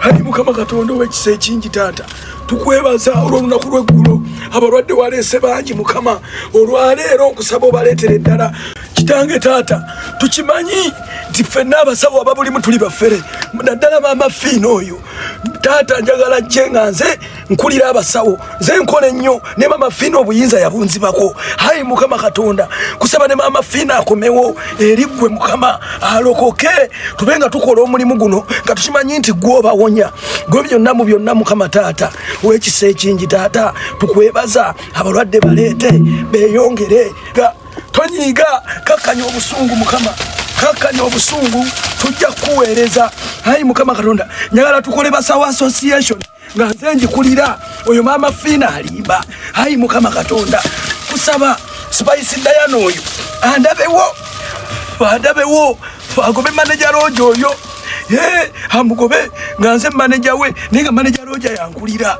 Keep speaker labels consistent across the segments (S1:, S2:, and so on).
S1: ali mukama katonda owekisa ekingi taata tukwebaza olwolunaku lweggulo abalwadde waleese bangi mukama olwaleero okusaba obaleetera eddala kitange taata tukimanyi nti ffenna abasawo ababulimu tuli bafere naddala maama fiina oyo taata njagala jje nga nze nkulira abasawo nze nkola ennyo ne mama fiina obuyinza yabunzibako hayi mukama katonda kusaba ne mama fiina akomewo eri ggwe mukama alokoke tube nga tukola omulimu guno nga tukimanyi nti gwe obawonya gwe byonna mu byonna mukama taata wekisa ekingi taata tukwebaza abalwadde baleete beyongere ga tonyiiga kakkanya obusungu mukama kakkanya obusungu tujja kukuweereza hayi mukama katonda njagala tukole basawo association nga nze njikulira oyo maama fiina alimba ayi mukama katonda kusaba spice dayana oyo andabewo andabewo agobe maneja roja oyo ye amugobe nga nze maneja we naye nga maneja roja yankulira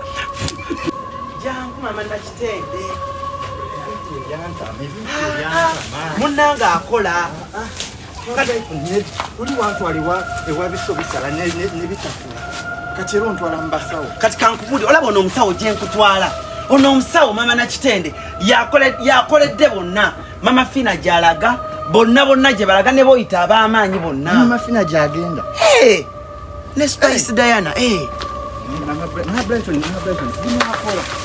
S2: munanga akola oli wantwala ewabiso bisala nebitakula kati era ontwala mubasawo kati kankubuli olaba ono omusawo gyenkutwala ono omusawo mama nakitende yakoledde bonna mama fina gyalaga bonna bonna gyebalaga neboyita abamaanyi bonna mama fina gyagenda ne spice hey. diana hey. Eh.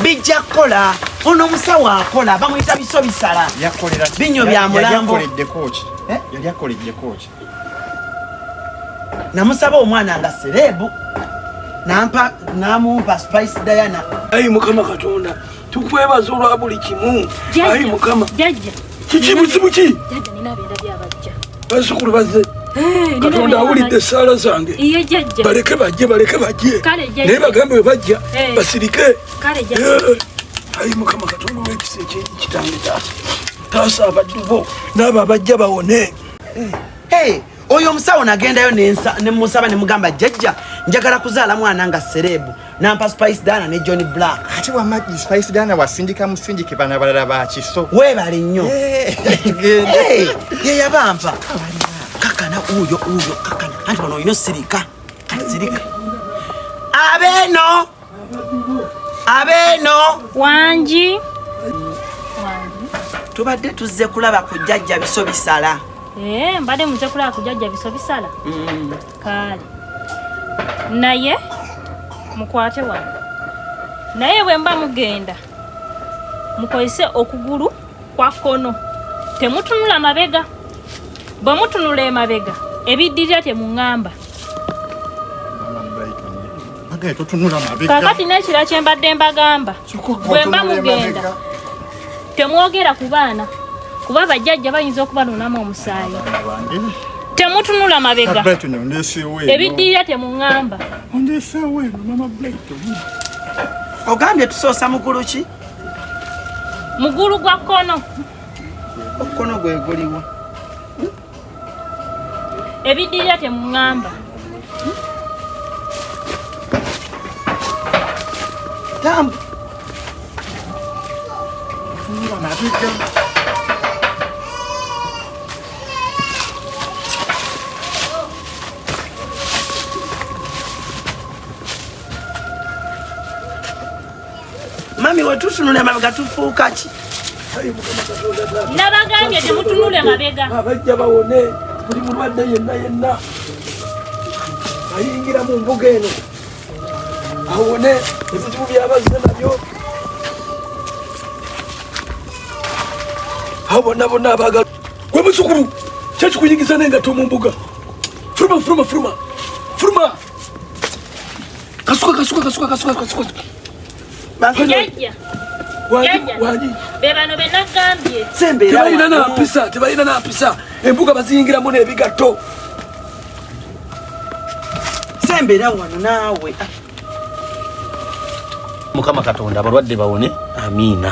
S2: bijja kukola ono omusawo akola bamuyita biso bisala binyo bya mulambo eh? namusaba omwana nga serebu nampa namumpa spice diana ayi mukama katonda
S1: tukwebaza olwa buli kimu ayi mukama kiki
S3: buzibu ki bazukulu baze
S1: eh, katonda awulidde esaala zange baleke
S3: bajje baleke
S1: bajje naye bagambe
S3: webajja
S1: eh. basirike
S3: eh, ayi mukama
S1: katonda owekisa ekitange taasa taasa abaddu bo naabo abajja bawone
S2: oyo omusawo nagendayo nemusaba nemugamba jajja njagala kuzaala mwana nga serebu nampa spice dana ne john black ate wamagi spice dana wasindika musindike bana balala bakiso webale nnyo yeyabampa kakana uyo uyo kakana anti bano olina osirika sirika abeno abeeno wangi tubadde tuzze kulaba ku jjajja biso bisala eh, mbadde muze
S3: kulaba ku jjajja biso bisala mm. kaale naye mukwate wano naye bwe mba mugenda mukozese okugulu kwa kkono temutunula mabega bwe mutunula emabega ebiddirira temuŋŋamba kakati n'ekira kye mbadde mbagamba bwe mba mugenda temwogera ku baana kuba bajjajja bayinza okubanunamu omusaayi temutunula mabega ebiddirira temuŋŋamba
S2: ogambye tusoosa mugulu ki
S3: mugulu gwa kkono omukono
S2: gwe guliwa
S3: ebidirira temuŋamba
S2: tambu mami wetutunula emabega tufuuka ki
S3: nabagambye temutunula emabega abajja bawone
S1: buli mulwadde yenna yenna ayingira mu mbuga eno awone ebizibu byabazze nabyo awo bonna bonna abagala gwe muzukulu kyekikuyigiza nengatto mu mbuga furuma furuma furuma furuma Kasuka kasuka kasuka kasuka kasuka. Jajja. Wali. Bebano
S3: benagambye. Sembe. Tebalina na
S2: mpisa, tebalina
S1: na mpisa. Embuga baziyingira mu nebigatto.
S2: Sembera wano naawe.
S4: Mukama Katonda abalwadde bawone. Amiina.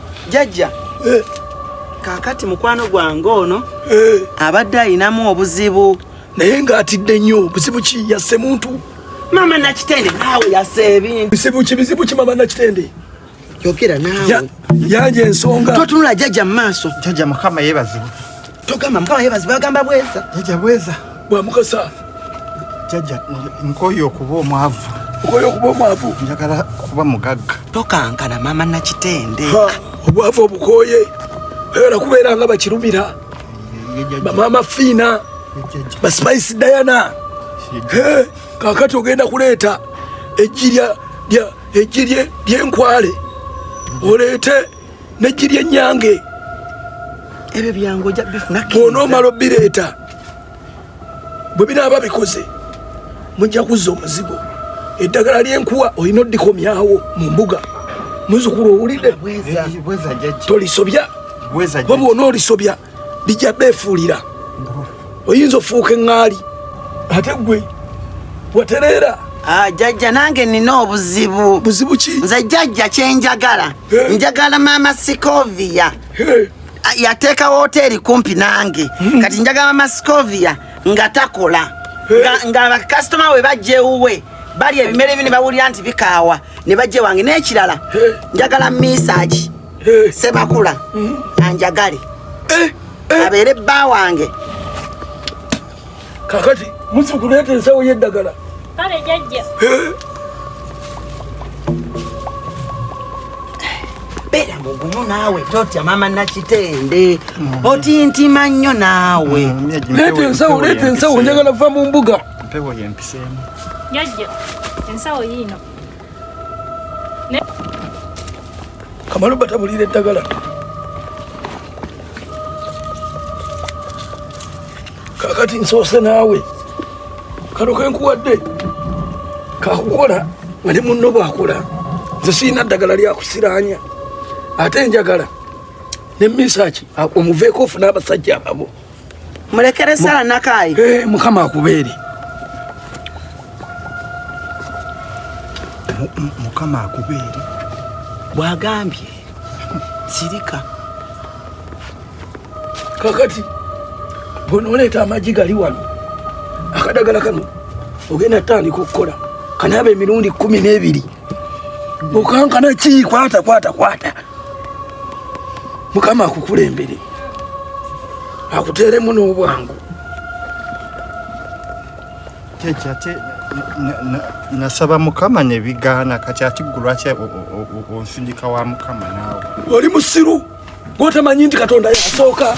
S2: jajja eh. kakati mukwano gwange ono eh. abadde alinamu obuzibu naye ng'atidde
S1: nnyo obuzibu ki yasse muntu mama nakitende
S2: naawe yasa ebintu bizibu ki bizibu ki mama nakitende
S1: yogera
S2: naawe yanja ensonga
S1: totunula jajja mu maaso
S2: jajja mukama yebazibu
S5: Togamba mukama
S2: yebazi bagamba bweza. Jaja bweza.
S5: Bwa mukasa.
S1: Jaja
S5: nkoyo okuba omwavu. Nkoyo okuba omwavu. Njagala kuba mugagga. Tokankana mama
S2: na kitende. Ha, obwavu
S1: obukoye. Era kubeera nga bakirumira. Mama Fina. Ba Spice Diana. He, kakati ogenda kuleeta ejjirya lya ejjirye lyenkwale oleete n'eggi ly'ennyange
S2: ebyo byange ojja bifuna bw'onoomala obbireeta
S1: bwe binaaba bikoze mujja kuzza omuzigo eddagala ly'enkuwa olina oddikomyawo mu mbuga muzukulu owulidde
S5: tolisobya
S1: wabwona
S5: olisobya
S1: bijja beefuulira oyinza ofuuka eŋŋaali ate gwe watereera ah, jajja
S2: nange nina obuzibu buzibu ki nze
S1: jajja
S2: kyenjagala njagala maama sikovia ah, yateeka woteeri kumpi nange hmm. kati njagala maama sikovia nga takola nga bakasitoma we bajja ewuwe bali ebimere byo ne bawulira nti bikaawa ne bajja ewange n'ekirala njagala misaaki sebakula hmm? anjagale eh, eh. abeere bba wange
S1: kakati musukuleeta ensawo yeddagala kale
S3: jajja
S2: beera mugumu naawe totya mama nakitende hmm. otintima nnyo naawe hmm, leeta ensawo
S1: leeta ensawo njagala va mu mbuga mpewo yempiseemu
S5: jajja
S3: ensawo yiino
S1: kamalu batabulira eddagala kakati nsoose naawe kano kenkuwadde kakukola nga ne munno bwakola nze sirina ddagala lyakusiraanya ate njagala ne misaki omuveeko ofuna abasajja ababo mulekere
S2: sala nakayi eh, mukama akubeere
S5: mukama akubeere
S2: bwagambye sirika
S1: kakati bwonoleeta amagi gali wano akadagala kano ogenda tandika okukola kanaaba emirundi kumi n'ebiri mukankana ki kwata kwata kwata mukama akukulembere akuteeremu n'obwangu
S5: kyekyo ate nasaba mukama nebigaana kati ati gulwaki onsindika
S1: wa
S5: mukama
S1: naawe
S5: oli
S1: musiru
S5: gwotamanyi
S1: nti katonda
S5: yasooka